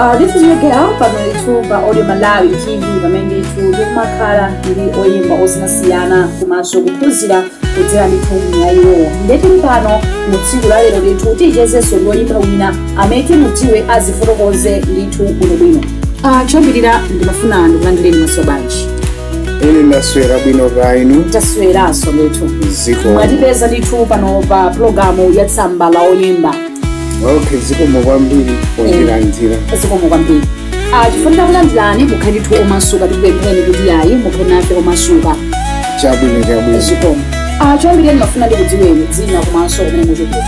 Uh, this is your girl Pamela ndithu pa audio malawi tv pamene ndithu ndikumakhala ndi oyimba osiyanasiyana komanso kuphunzira kudzera ndithu mwa iwowo nde tili pano mu tsiku la lero ndithu tichezenso ndi oyimba wina amene timudziwe azifotokoze ndithu bwinobwino Ah, choyambirira ndimafuna ndikulandireni mwaswera bwanji ine ndaswera bwino kaya inu tasweranso ndithu zikomo mwatipeza ndithu pano pa pulogalamu ya tsamba la oyimba okay zikomo kwambiri pondilandira zikomo kwambiri Ah, chifukwa takulandirani mukhale omasuka tikupempheni kuti yayi mukhale omasuka chabwino chabwino zikomo Ah, choyambirira ndimafuna ndikudziweni dzina komanso kumene mumachokera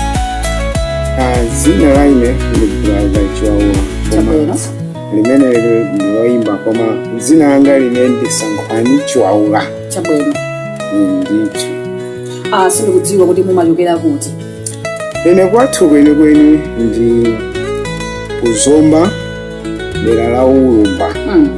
Ah, dzina la ine ndi brother chiwaula chabwino koma limene ili ndi loyimbira koma dzina langa ine ndi sankhwani chiwaula chabwino ndithu Ah, sindikudziwa kuti mumachokera kuti Ine kwathu kwenikweni ndi ku zomba dera la ulumba Mm,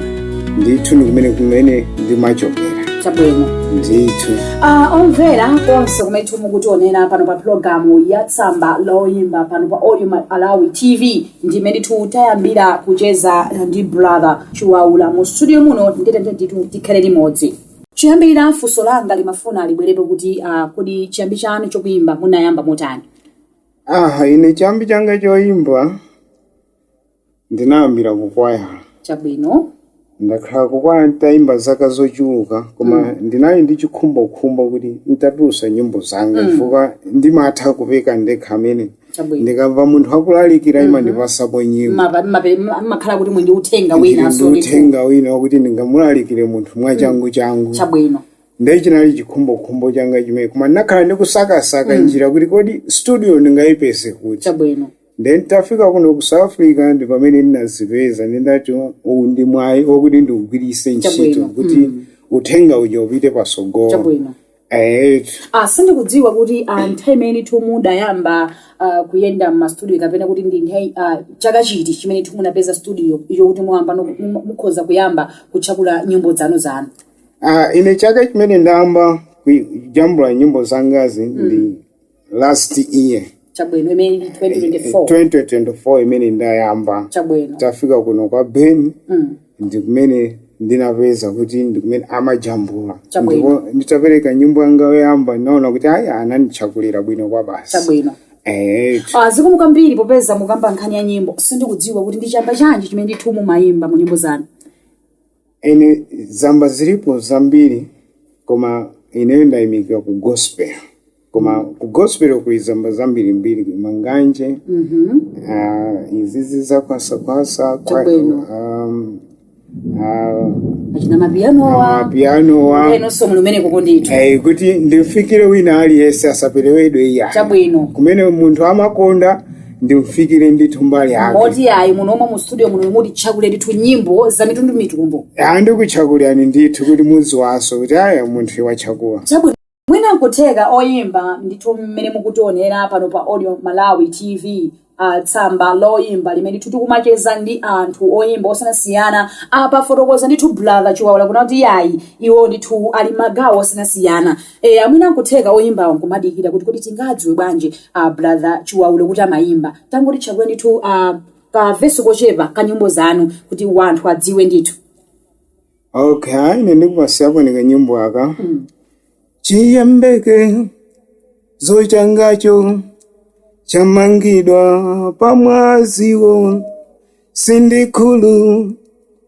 ndithu ndi kumene kumene ndimachokera chabwino ndithu Ah, owonera konse kumene mukutionera pano pa pulogalamu ya tsamba la oyimba pano pa audio malawi tv ndi mmene tayambira kucheza ndi brother chiwaula mu studio muno ndiyetu ndithu tikhale limodzi Choyambirira funso langa ndimafuna libwerepo kuti ah, kodi chiyambi chanu cha kuimba munayamba motani? aha ine chiyambi changa choyimba ndinayambira kukwaya Chabwino. ndakhala kukwaya nditayimba zaka zochuluka koma ndinali ndi chikhumbokhumbo kuti nditatulutsa nyimbo zanga chifukwa ndimatha kupeka ndekha amen chabwino ndikamva munthu akulalikira imandipasapo nyimbo Mapa- mape- ma- makhala kuti mwina ndi uthenga wina ndi wasoti uthenga wina wakuti ndingamulalikire munthu mwachangu changu chabwino ndiye chinali chikhumbokhumbo changa chimenecho koma ndinakhala ndikusakasaka njira kuti kodi studio ndingayipeze kuti chabwino then nditafika kuno ku south africa ndi pamene ndinayipeza ndinati uwu ndi mwayi wakuti ndiugwirise ntchito Chabwino. kuti uthenga uja upite pasogolo chabwino Eight. Ah, sindikudziwa kuti ah, nthawi imene ndithu mudayamba ah, kuyenda m'mastudio kapena kuti ndi nthawi ah, chaka chiti chimene ndithu munapeza studio iyo kuti mwayamba no- mu- mukhoza kuyamba kujambula nyimbo zanu zanu Ah, ine chaka chimene ndayamba kujambula nyimbo zangazi ndi last year chabwino imene ndi 2024 2024 imene ndayamba chabwino tafika kuno kwa ben Mm. ndi kumene ndinapeza kuti ndi kumene amajambula Chabwino. ndipo nditapereka nyimbo yanga yoyamba ndinaona kuti ayi ananditchakulira bwino kwabasi chabwino Eh, Ah, zikomo kwambiri popeza mukamba nkhani ya nyimbo sindikudziwa kuti ndi chamba chanji chimene ndithu mumayimba mu nyimbo zanu ine zamba zilipo zambiri koma ineyo ndayimikiwa ku gospel koma ku gospel kuli zamba zambirimbiri manganje Mhm. ah, izizi za kwasakwasa kwa- Chabwino. um, ah, achina mapiyanowa pianowa enanso ali kumeneko kondithu Eh, kuti ndimufikire wina aliyense asaperewedwe iya chabwino kumene munthu amakonda ndimufikire ndithu mbali yake moti ayi muno omwe mu studio muno mutitchakulire ndithu nyimbo za mitundu mitundu andikuchakulirani ndithu kuti mudziwenso kuti aya munthu watchakula chabwino mwina nkutheka oyimba ndithu mmene mukutionera pano pa audio malawi tv uh, tsamba loyimba limene ndithu tikumacheza ndi anthu oyimba osiyanasiyana apafotokoza ndithu brother chiwawula kuna kuti yayi iwo ndithu ali m'magawo osiyanasiyana Eya mwina nkutheka oyimbawo nkumadikira kuti kodi tingadziwe bwanji a brother Chiwaulo kuti amayimba. Tangotitchakulani ndithu pa ka verse kochepa ka nyimbo zanu kuti wanthu adziwe ndithu. okay ine ndikupatsiraniko kanyimbo aka chiyembekezo changacho chamangidwa pa mwaziwo sindikhulu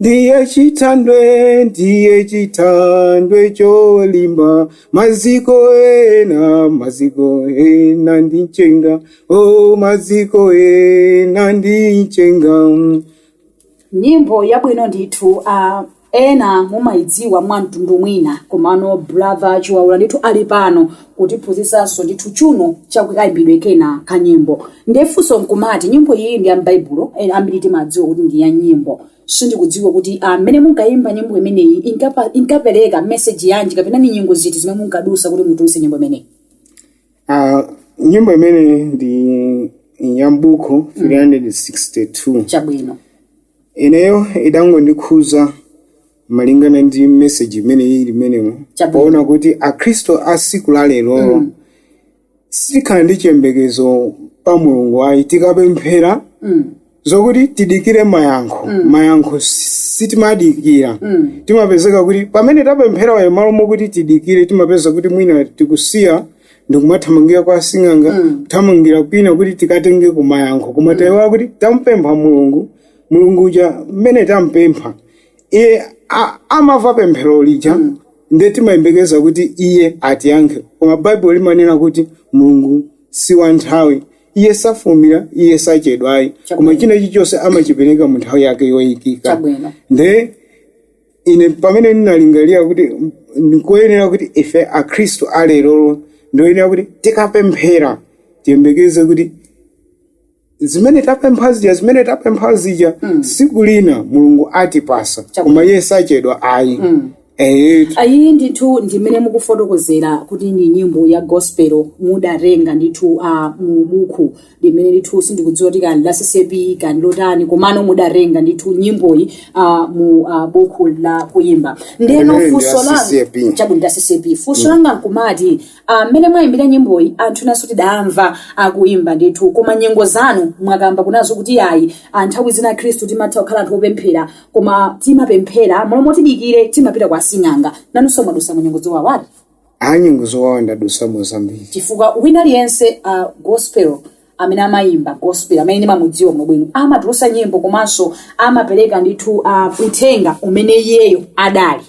Ndiye chithanthwe, ndiye chithanthwe cholimba, maziko ena, maziko ena ndi mchenga, o maziko ena ndi mchenga. nyimbo yabwino ndithu uh, ena mumayidziwa mwa mtundu wina komano brother chiwaula ndithu ali pano kutiphunzitsanso ndithu chuni cha kayimbidwe kena ka nyimbo ndefunso nkumati nyimbo iyi ndi ya m'baibulo ena ambiri timadziwa kuti ndi ya nyimbo sindikudziwa kuti mmene munkayimba nyimbo imeneyi inkapa- inkapereka meseji yanji kapena ndi nyengo ziti zimene munkadutsa kuti mutulutse nyimbo imeneyi Ah, nyimbo imene ndi ya m'buku 362 chabwino ineyo idangondikhuza malingana ndi meseji imene ili m'menemo Chabwino. poona kuti akhristu a siku la lerolo Mm. sitikhala ndi chiyembekezo pa mulungu ayi tikapemphera Mm. zokuti tidikire mayankho mayankho sitimadikira Mm. timapezeka kuti pamene tapempherapayo malo mokuti tidikire timapezeka kuti mwina tikusiya ndikumathamangira kwa sing'anga kuthamangira kwina kuti tikatenge mayankho koma tayiwala kuti tampempha mulungu mulungu uja mmene tampempha Iye a, amava pemphero lija mm. nde timayembekeza kuti iye atiyankhe koma baibulo limanena kuti mulungu si wa nthawi iye safulumira iye sachedwa ayi koma Chabwino. china chilichonse amachipereka mu nthawi yake yoyikika Chabwino. nde ine pamene ndinalingalira kuti ndikoyenera kuti ife akhristu alerolo ndi oyenera kuti tikapemphera tiyembekeze kuti zimene tapempha zija zimene tapempha zija siku lina mulungu atipasa Chabwino. koma iye sachedwa ayi Eh, ayi ndithu ndimene mukufotokozera kuti ndi nyimbo ya gospel mudatenga ndithu a mu buku limene ndithu sindikudziwa kuti kani la CCAP kani lotani komano mudatenga ndithu nyimboyi a mu a buku la kuyimba ndeno Limene ndi la funso langa CCAP. chabwino la CCAP funso langa nkumati Ah, mmene mwayimbira nyimboyi anthu enanso tidamva akuyimba ndithu koma nyengo zanu mwakamba kunazo kuti yayi ah, nthawi zina akhristu timatha kukhala anthu opemphera koma timapemphera m'malo moti tidikire timapita kwa sing'anga nanunso mwadusa mu nyengo zowawati a nyengo zowawa ndadusamo zambiri chifukwa wina aliyense uh, gospel amene amayimba gospel amene ndimamudziwa bwino bwino amatulusa nyimbo komanso amapereka ndithu uh, uthenga umene iyeyo adali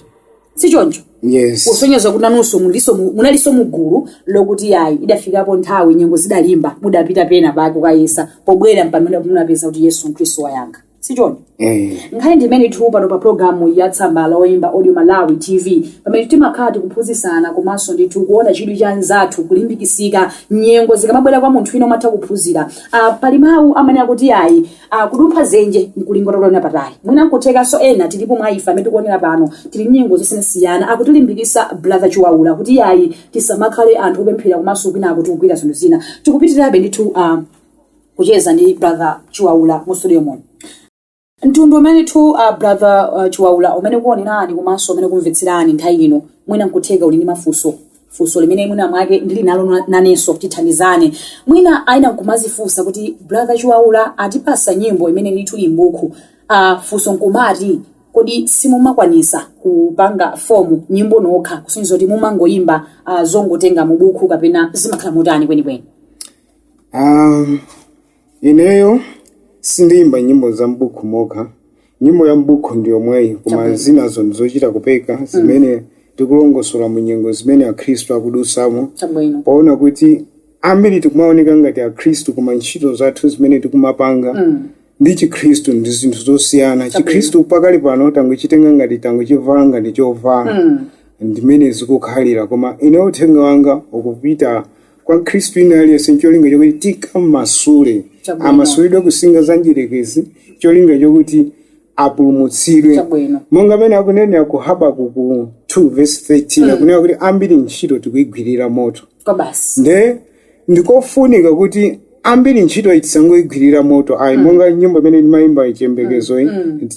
si choncho Yes. kusonyeza kuti nanunso muliso mu- munalinso mugulu lokuti yayi idafikapo nthawi nyengo zidalimba mudapita pena pake kukayesa pobwerera mpamene munapeza kuti yesu khristu wayankha si choncho eh nkhani ndi imeneyitu pano pa programu ya tsamba la oyimba audio malawi tv pamene timakhala tikuphunzitsana komanso ndithu kuona chidwi cha nzathu kulimbikisika nyengo zikamabwera kwa munthu wina umatha kuphunzira ah, pali mawu amene akuti ayi ah, kudumpha zenje nkulinga utaona patali mwina nkuthekanso ena tilipo mwa ife amene tikuonera pano tili mu nyengo zosiyanasiyana akutilimbikisa brother chiwaula kuti ayi tisamakhale anthu opemphera komanso kwina tikugwira zinthu zina tikupitirabe ndithu ah, kucheza ndi brother chiwaula mu studio muno mtundu umene tu uh, brother uh, chiwaula umene ukuonerani komanso umene kumvetserani nthawi ino mwina nkutheka uli ndi mafunso funso limene mwina mwake ndili nalo na- nanenso tithandizane mwina aina nkumazifunsa kuti brother chiwaula atipasa nyimbo imene ndithu ili m'buku uh, funso nkumati kodi simumakwanisa kupanga fomu nyimbo nokha kusonyeza kuti mumangoyimba uh, zongotenga mu buku kapena zimakhala motani kwenikweni Um, ineyo sindiyimba nyimbo za m'buku mokha nyimbo ya m'buku ndi yomweyi koma Chabwino. zinazo ndizochita kupeka zimene tikulongosola mu nyengo zimene akhristu akudusamo chabwino poona kuti ambiri tikumaoneka ngati akhristu koma ntchito zathu zimene tikumapanga Mm. ndi chikhristu ndi zinthu zosiyana chikhristu pakali pano tangochitenga ngati tangochivala ngati chovala Mm. ndimene zikukhalira koma ine uthenga wanga ukupita kwa khristu ina aliyense ncholinga chokuti tikamasule Chabwino. amasulidwe kusinga za mdierekezi cholinga chokuti apulumutsidwe Chabwino. monga amene akunenera ku habakuku 2 verse 13 akunena kuti ambiri ntchito tikuyigwirira moto kwabasi nde ndikofunika kuti ambiri ntchito itisangoigwirira moto ayi monga nyimbo imene ndimayimba chiyembekezo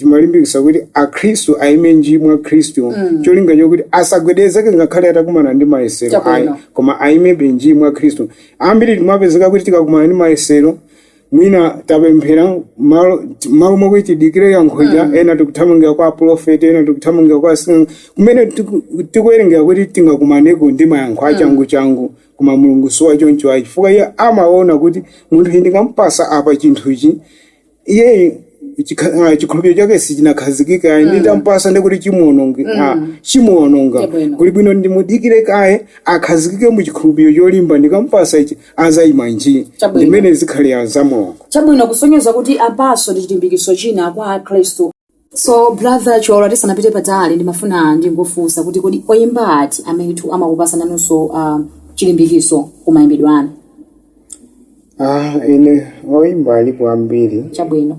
imalimbikisa kuti akhristu ayime nji mwa khristu cholinga chokuti asagwedezeke ngakhale atakumana ndi mayesero Chabwino. ayi koma ayimebe nji mwa khristu ambiri timapezeka kuti tikakumana ndi mayesero mwina tapemphera malo malo mwakuti tidikire yankho ija ena tikuthamangira kwa aprofeti ena tikuthamangira kwa asing'anga kumene tiku- tikuwerengera kuti tingakumaneko ndi mayankho achangu changu koma mulungu si wachoncho ayi chifukwa iye amaona kuti munthu uyu ndikampasa apa chinthu ichi iye chikha- ah, chikhulupiriro chake sichinakhazikike ayi nditampasa ndikuti chimuononge ah, chimuononga Chabwino. kuli bwino ndimudikire kaye akhazikike mu chikhulupiriro cholimba ndikadzampasa ichi azayima njii Chabwino. ndimmene zikhalira za mulungu chabwino kusonyeza kuti apaso ndi chilimbikitso china kwa akhristu So brother Cholo tisanapite patali ndimafuna ndingofunsa kuti kodi oyimba ati amene ndithu amakupasani nanunso uh, chilimbikiso kumayimbidwe anu Ah, ine oyimba alipo ambiri chabwino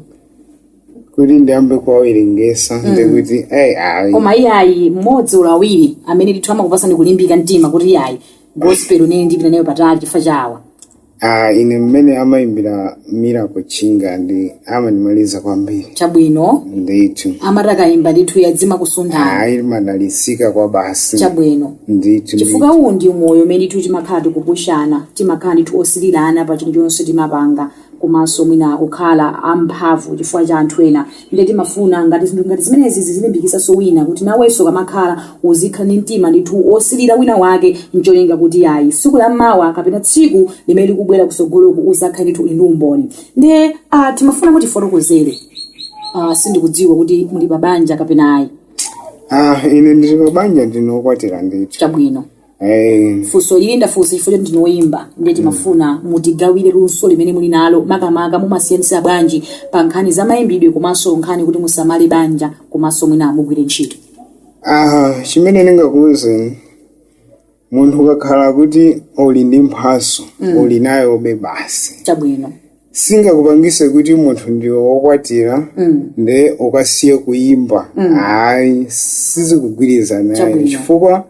kuti ndiyambe kuwawerengesa ndikuti ayi ayi koma iyayi mmodzi ulo awiri amene ndithu amakupasani kulimbika mtima kuti iyayi gospel nanenso ndipita nayo patali chifukwa chawa Ah, ine mmene amayimbira Miracle Chinga ndi amandimaliza kwambiri chabwino ndithu amati akayimba ndithu yadzima kusunthana ayi ndimadalisika kwabasi chabwino ndithu chifukwa uwu ndi moyo umene ndithu timakhala tikupushana timakhala ndithu osilirana pa chinthu chonse timapanga komanso mwina kukhala amphamvu chifukwa cha anthu ena nde timafuna ngati zinthu ngati zimenezi zizilimbikitsanso wina kuti nawenso ukamakhala uzikhala ndi mtima ndithu wosilira wina wake ncholinga kuti ayi tsiku la mawa kapena tsiku limene likubwera kusogoloku uzakhale ndithu uli ndi umboni nde ah, timafuna mutifotokozere ah, sindikudziwa kuti muli pa banja kapena ayi Ah, ine ndili pa banja ndine wokwatira ndithu chabwino Eh, funso ili ndafunsa chifukwa choti ndinu oyimba ndiye timafuna mutigawire luso limene muli nalo makamaka mumasiyanisa bwanji pa nkhani za mayimbidwe komanso nkhani kuti musamale banja komanso mwinanso mugwire ntchito aha chimene ndingakuwuzeni munthu ukakhala kuti uli ndi mphaso uli nayobe basi chabwino singakupangise kuti munthu ndiwe wokwatira nde ukasiya kuyimba ayi sizikugwirizana ayi Chabwino. chifukwa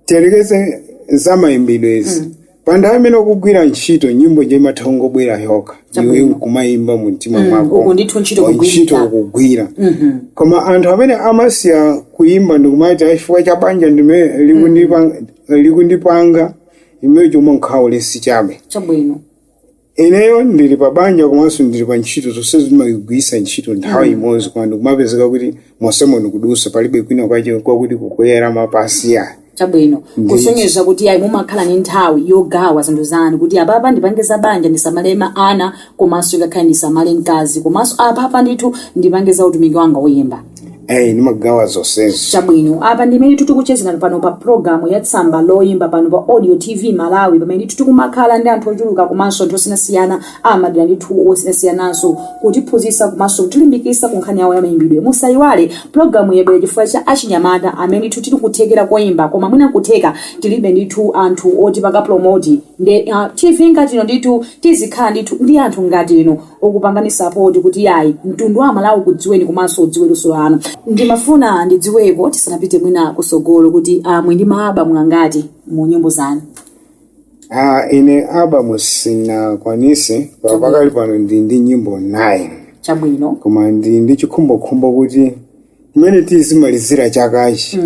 tiyerekeze za mayimbidwezi panthawi amene ukugwira ntchito nyimbo nje imatha kungobwera yokha iwe Chabwino. nkumayimba mu mtima mwako uku ndithu ntchito wa kugwirira. ntchito ukugwira koma anthu amene amasiya kuyimba ndikumati ayi chifukwa cha banja ndime likundipa- likundipanga imeneyo chomwe nkhaulesi chabe chabwino ineyo ndili pa banja komanso ndili pa ntchito zonse zimagwira ntchito nthawi imodzi koma ndikumapezeka kuti monsemo ndikudusa palibe kwina kwache kwakuti kukulira mapazi ayi chabwino Ndicho. kusonyeza kuti ayi mumakhala ni nthawi yogawa zinthu zanu kuti apapa ndipange za banja ndisamale ma ana komanso ngakhale ndisamale mkazi komanso apapa ndithu ndipange za utumiki wanga woyimba eyi ndimagawa zonsezi chabwino apa ndi mmene tikuchezera pano pa programu ya tsamba loyimba pano pa radio tv malawi pamene tikumakhala ndi anthu ochuluka komanso anthu osiyanasiyana amadera ndithu osiyanasiyananso kutiphunzitsa komanso kutilimbikitsa ku nkhani yawo ya mayimbidwe musayiwale programu yabwera chifukwa cha achinyamata amene ndithu ali nkuthekera koyimba koma mwina nkutheka tilibe ndithu anthu otipanga promoti nde uh, tv ngati ino ndithu tizikhala ndithu ndi anthu ngati ino okupanganitsa poti kuti yayi mtundu wa amalawi ukudziweni komanso udziwe luso lanu ndimafuna ndidziweko tisanapite mwina kusogolo kuti a muli ndi maabamu angati mu nyimbo zanu Ah, ine abamu sindinakwanise pa- pakali pano ndili ndi nyimbo 9 chabwino koma ndili ndi chikhumbokhumbo kuti mmene tizimalizira chakachi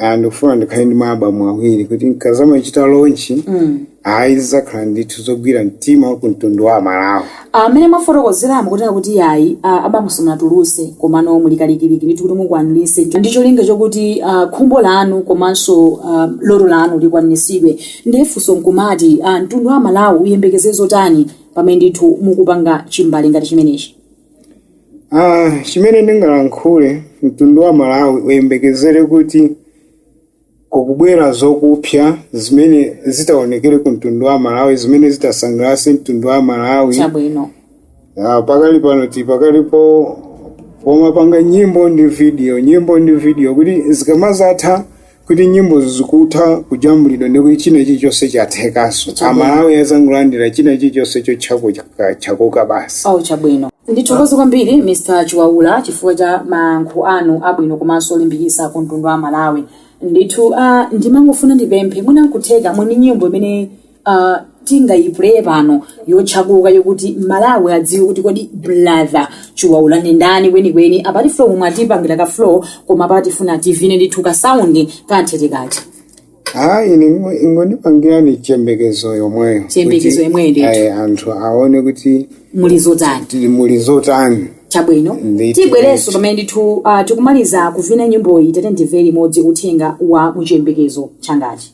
ah, ndikufuna ndikhale ndi maabamu awiri kuti nkazamachita lonchi ayi zidzakhala ndithu zogwira mtima kumtundu wa amalawi mmene mwafotokozeramo kutena kuti yayi ah, abamu simunatuluse komano muli kalikiliki ndithu kuti mukwanise ndi cholinga chokuti ah, khumbo lanu komanso ah, loto lanu likwanisidwe ndiye funso nkumati ah, mtundu wa malawi uyembekezere zotani pamene ndithu mukupanga chimbale ngati chimenechi Ah, chimene ndingalankhule mtundu wa malawi uyembekezere kuti kukubwera zakupsa zimene zitaonekere ku mtundu wa malawi zimene zitasangalatse mtundu wa malawi chabwino Ah, pakali pano tikali pomapanga nyimbo ndi video nyimbo ndi video kuti zikamazatha kuti nyimbozo zikutha kujambulidwa ndi kuti china chilichonse chathekanso amalawi azangolandira china chilichonse chotchako chaka- chakoka basi ah chabwino ndithokoze kwambiri mr chiwaula chifukwa cha mayankho anu abwino komanso olimbikitsa ku mtundu wa malawi ndithu ah, ndimangofuna ndipemphe mwina nkutheka muli ndi nyimbo imene uh, tingayipulee pano yotchuka yokuti malawi adziwe kuti kodi brother chiwaula ndi ndani kwenikweni apati flow momwe atipangire ka flow koma apa tifuna tivine ndithu ka sound kantheteka cha hayi ingondipangirani chiyembekezo yomweyo Chiyembekezo Kuti, yomweyo ndithu. ayi, anthu aone kuti muli zotani tili muli zotani chabwino Ndithu, tibwerenso ndithu. pamene ndithu uh, tikumaliza kuvina nyimboyi titamvere imodzi uthenga wa mu chiyembekezo changachi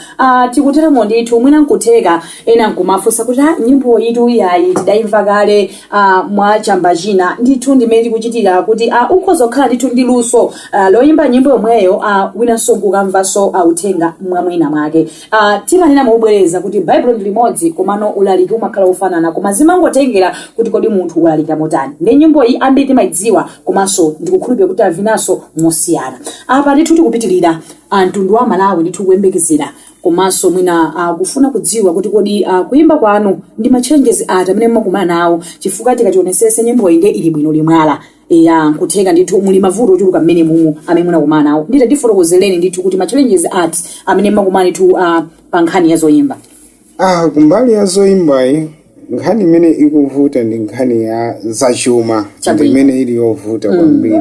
Ah, tikuteromo ndithu mwina nkutheka ena nkumafunsa kuti ah, nyimboyitu iyayi tidayimva kale ah, mwa chamba china ndithu ndi mmene tikuchitira kuti ah, ukhoza kukhala ndithu ndi luso ah, loyimba nyimbo yomweyo ah, winanso nkukamvanso ah, uthenga mwamwina mwake ah, timanena mobwereza kuti baibulo ndi limodzi komano ulaliki sumakhala wofanana koma zimangotengera kuti kodi munthu walalika motani ndi nyimbo iyi ambiri timayidziwa komanso ndikukhulupirira kuti avinanso mosiyana apa ndithu tikupitirira a mtundu wa Malawi ndithu kuyembekezera komanso mwina akufuna kudziwa kuti kodi ah, kuyimba kwanu ndi ma challenges ati amene mumakumana nawo chifukwa tikaionesesa nyimboyi nde ili bwino mwala eya nkutheka ndithu muli mavuto ochuluka mmenemo amene mumakumana nawo ndiye tatifotokozereni ndithu kuti ma challenges ati amene mumakumana ndithu ah, pa nkhani ya zoyimba Ah, kumbali ya zoyimbayi nkhani imene ikuvuta ndi nkhani ya zachuma Chabwino. ndimene ili yovuta kwambiri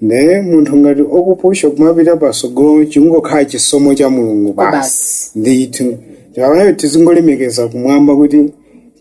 nde munthu ngati akupusha umapita pasogolo chingokhala chisomo cha mulungu basi Basi. ndithu nde ife panopa tizingolemekeza kumwamba kuti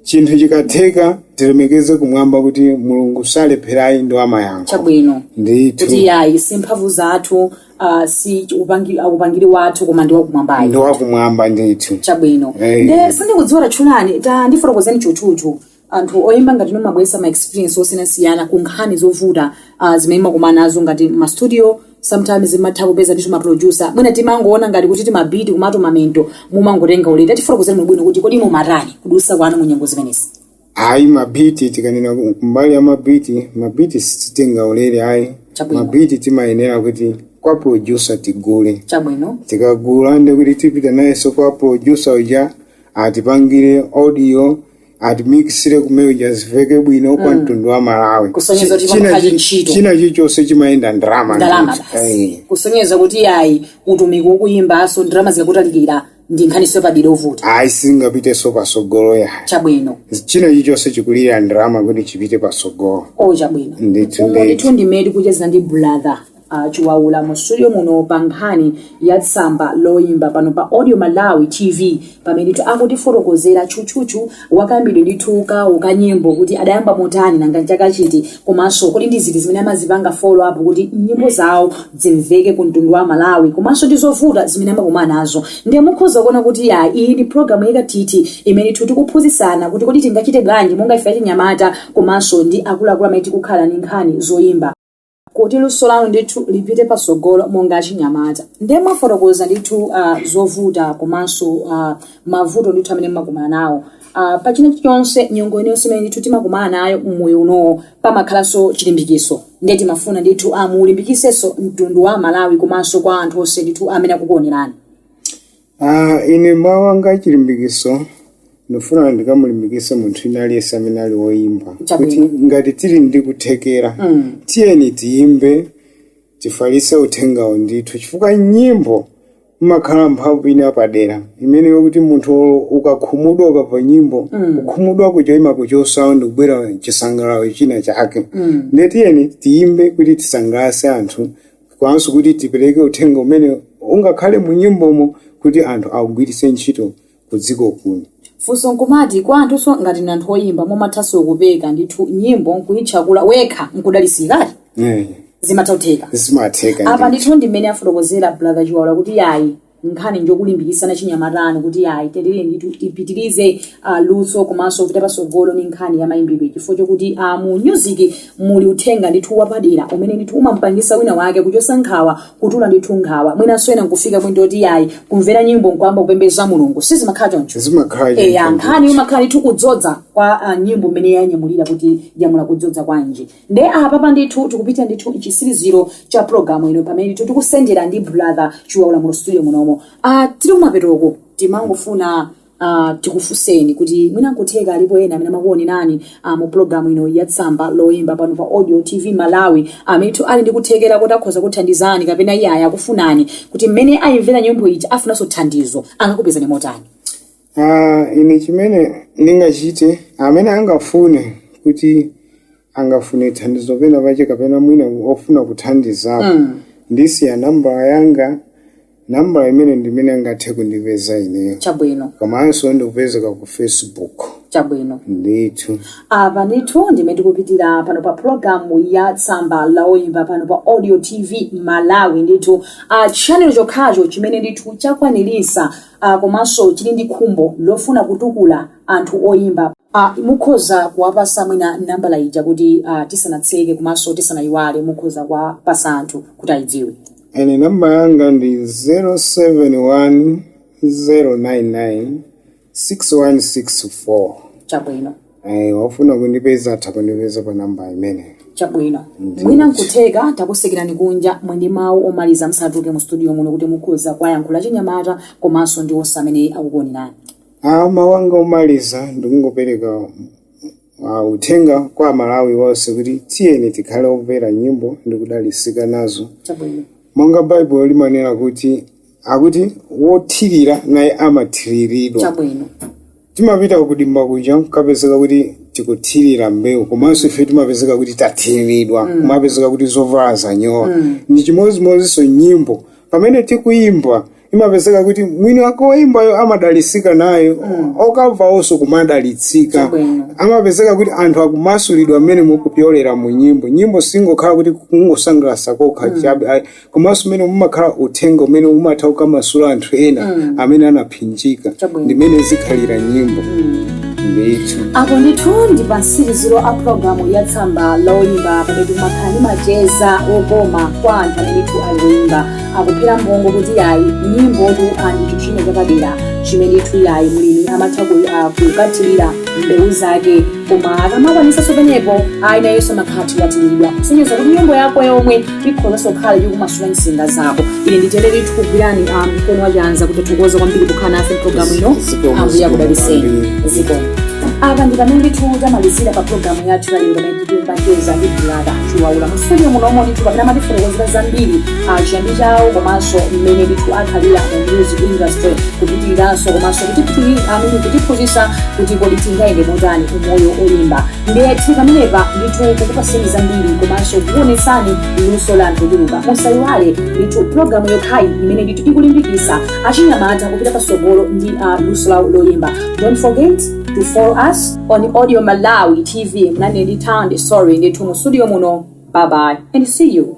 chinthu chikatheka tilemekeze kumwamba kuti mulungu salepherayi ndi wamayankho chabwino ndithu kuti ayi si mphamvu zathu uh, si upangi- uh, upangiri wathu koma ndi wakumwambayo ndi wakumwamba ndithu chabwino Eh. nde sindikudziwa tatchulani tandifotokozerani tchutchutchu anthu oyimba ngati inu mumabwesa ma experience osiyanasiyana ku nkhani zovuta uh, zimene mumakumana nazo ngati ma studio sometimes zimatha kupeza ndithu ma producer mwina timangoona ngati kuti timabiti kumatuma mwina mumangotenga ulere tifotokozereni bwinobwino kuti kodi mumatani kudutsa kwanu mu nyengo zimenezi ayi mabiti tikanena ku- kumbali ya mabiti mabiti sitingatenge ulere ayi Chabwino. mabiti timayenera kuti kwa producer tigule chabwino tikagula nde kuti tipita nayenso kwa producer uja atipangire audio atimikisire kumene kuja ziveke bwino kwa mtundu wa malawi Kusonyeza kuti China pamkhali chi- ntchito. china chilichonse chimayenda ndalama ndalama ndithu. basi Eh. kusonyeza kuti ayi utumiki wa kuyimbanso ndalama zikakutalikira ndi nkhaniso yapadera yovuta ayi singapiteso pasogolo ayi chabwino china chichonse chikulira ndalama kuti chipite pasogolo o chabwino ndithu umu ndithu ndithu ndi mmene tikucheza ndi brother uh, chiwaula mu studio muno pa nkhani ya tsamba loyimba pano pa audio malawi tv pamene ndithu akutifotokozera tchutchutchu akayambidwe ndithu kawo ka nyimbo kuti adayamba motani nanga mchaka chiti komanso kodi ndi ziti zimene amazipanga follow up kuti nyimbo zawo zimveke ku mtundu wa malawi komanso ndi zovuta zimene amakumana nazo ndiye mukhoza kuona kuti yayi iyi ndi programu yakathithi imene ndithu tikuphunzitsana kuti kodi tingachite bwanji monga ife achinyamata komanso ndi akuluakulu amene tikukhala ndi nkhani zoyimba kuti luso lanu ndithu lipite patsogolo monga achinyamata ndiye mwafotokoza ndithu uh, zovuta komanso uh, mavuto ndithu amene mmakumana nawo uh, pa china chonse nyengo iliyonse imene ndithu timakumana nayo mmoyo unowo pamakhalanso chilimbikitso ndiye timafuna ndithu uh, muulimbikisenso mtundu wa malawi komanso kwa anthu onse ndithu amene akukuonerani Ah, ine mawu anga achilimbikitso ndifuna ndikamulimbikitse munthu wina aliyense amene ali woyimba kuti Chabwino. ngati tili ndi kuthekera Mm. tiyeni tiyimbe tifalitse uthengawo ndithu chifukwa nyimbo imakhala ndi mphamvu ina yapadera imene yokuti munthu olo ukakhumudwa ukamva nyimbo Mm. kukhumudwa kuja imakuchotsa ndikubwera chisangalalo china chake Mm. ndiye tiyeni tiyimbe kuti tisangalatse anthu komanso kuti tipereke uthenga umene ungakhale mu nyimbomo kuti anthu augwiritse ntchito ku dziko kuno. Funso nkumati kwa anthunso ngati inu anthu oyimba mumathanso kupeka ndithu nyimbo nkuitchakula wekha nkudalitsikadi? Eh, Zimatha kutheka. zimatheka apa ndithu. ndithu ndi mmene afotokozera brother chiwaula kuti yayi nkhani njokulimbikitsana achinyamatanu kuti ayi tiyeni ndithu tipitirize uh, luso komanso kupita patsogolo ni nkhani ya mayimbidwe chifukwa chokuti uh, mu music muli uthenga ndithu wapadera umene ndithu umampangitsa wina wake kuchotsa nkhawa kutula ndithu nkhawa mwinanso ena nkufika kwinto kuti ayi kumvera nyimbo nkuyamba kupembeza mulungu sizimakhala choncho zimakhala eya choncho. nkhani imakhala ndithu kudzodza kwa uh, nyimbo mmene yanyamulira kuti yanyamula kudzodza kwanji Nde apapa ndithu tikupita ndithu mchitsiriziro cha program ino pamene ndithu tikusendera ndi brother Chiwaula mu studio munomo. Ah tiri kumapetoko timangofuna ah tikufuseni kuti mwina nkutheka alipo ena amene amakuonerani ah, mu program ino ya tsamba la oyimba pano pa Audio TV Malawi amene ndithu ali ndi kuthekera kuti akhoza kukuthandizani kapena iyeyo akufunani kuti mmene ayimvera nyimbo ija afunanso thandizo angakupezani motani. Ah, ine chimene ndingachite amene angafune kuti angafune thandizo penapake kapena mwina ofuna kuthandizapo ndisiya nambala yanga nambala imene ndimene angathe kundipeza ineyo chabwino komanso ndikupezeka ku facebook chabwino ndithu apa ndithu ndi mmene tikupitira pano pa pulogalamu ya tsamba la oyimba pano pa audio tv malawi ndithu channel chokhacho chimene ndithu chakwanirisa a komanso tili ndi khumbo lofuna kutukula anthu oyimba. a Mukhoza kuwapasa mwina nambala ija kuti tisanatseke komanso tisanayiwale mukhoza kuwapasa anthu kuti ayidziwe. Ine nambala yanga ndi 071 099 6164. Chabwino. ayi wofuna kundipeza atha kundipeza pa namba imeneyo chabwino Ndithu. mwina nkutheka takutsekerani kunja mwendi mawu omaliza musanatuluke mu studio muno kuti mukhoza kuwayankhula achinyamata komanso ndi onse amene akukuonerani Ah, mawu anga omaliza ndikungopereka ah, uthenga kwa amalawi onse kuti tiyeni tikhale omvera nyimbo ndi kudalitsika nazo chabwino monga baibulo limanena kuti akuti wothirira naye amathiriridwa chabwino Timapita kudimba kuja nkapezeka kuti tikuthirira mbewu komanso ife timapezeka kuti tathiriridwa kumapezeka kuti zovala zanyowa ndi chimodzimodzinso nyimbo pamene tikuyimba imapezeka kuti mwini wake woyimbayo amadalitsika nayo okamvawonso kumadalitsika Chabwino. amapezeka kuti anthu akumasulidwa mmene kupyolera mu nyimbo nyimbo singokhala kuti kungosangalatsa kokha chabe ayi, komanso mmenemo mumakhala uthenga umene umatha kukamasula anthu ena amene anapsinjika Chabwino. ndi mmene zikhalira nyimbo ndithu apo ndithu ndi pamtsiriziro pa pulogalamu ya tsamba loyimba pamene timakhala ndi macheza okoma kwa anthu amene ndithu ali oyimba akuphera mphongo kuti yayi nyimbotu ndi chinthu china chapadera chimene ndithu yayi mlimi amatha ku- ah, kukathirira mbewu zake Koma akamakwanitsanso pamenepo ayi nayenso amakhala atathiriridwa kusonyeza kuti nyimbo yako yomwe ikhozanso kukhala yokumasula nsinga zako ine nditere tikugwirani ah, mkono wachanza kukuthokozani kwambiri kukhala nafe mpulogalamu ino Zikomo, ambuye akudalitseni kwambiri. zikomo apa ndi pamene ndithu tamalizira pa pulogalamu yathu yalero pamene timacheza ndi brother chiwaula mu studio munomo ndithu pamene amatifotokozera zambiri a chiyambi chawo komanso mmene ndithu akhalira mu music industry kupitiriranso komanso kutiphiri- amene kutiphunzitsa kuti kodi tingayende motani mumoyo oyimba ndiye tili pamenepa ndithu kukupaseni zambiri komanso kukuonetsani luso la anthu ochuluka musayiwale ndithu pulogalamu yokhayi imene ndithu ikulimbikitsa achinyamata kupita patsogolo ndi uh, luso lawo loyimba don't forget to follow us on audio malawi tv munali ndi town story ndithu mu studio muno bye bye and see you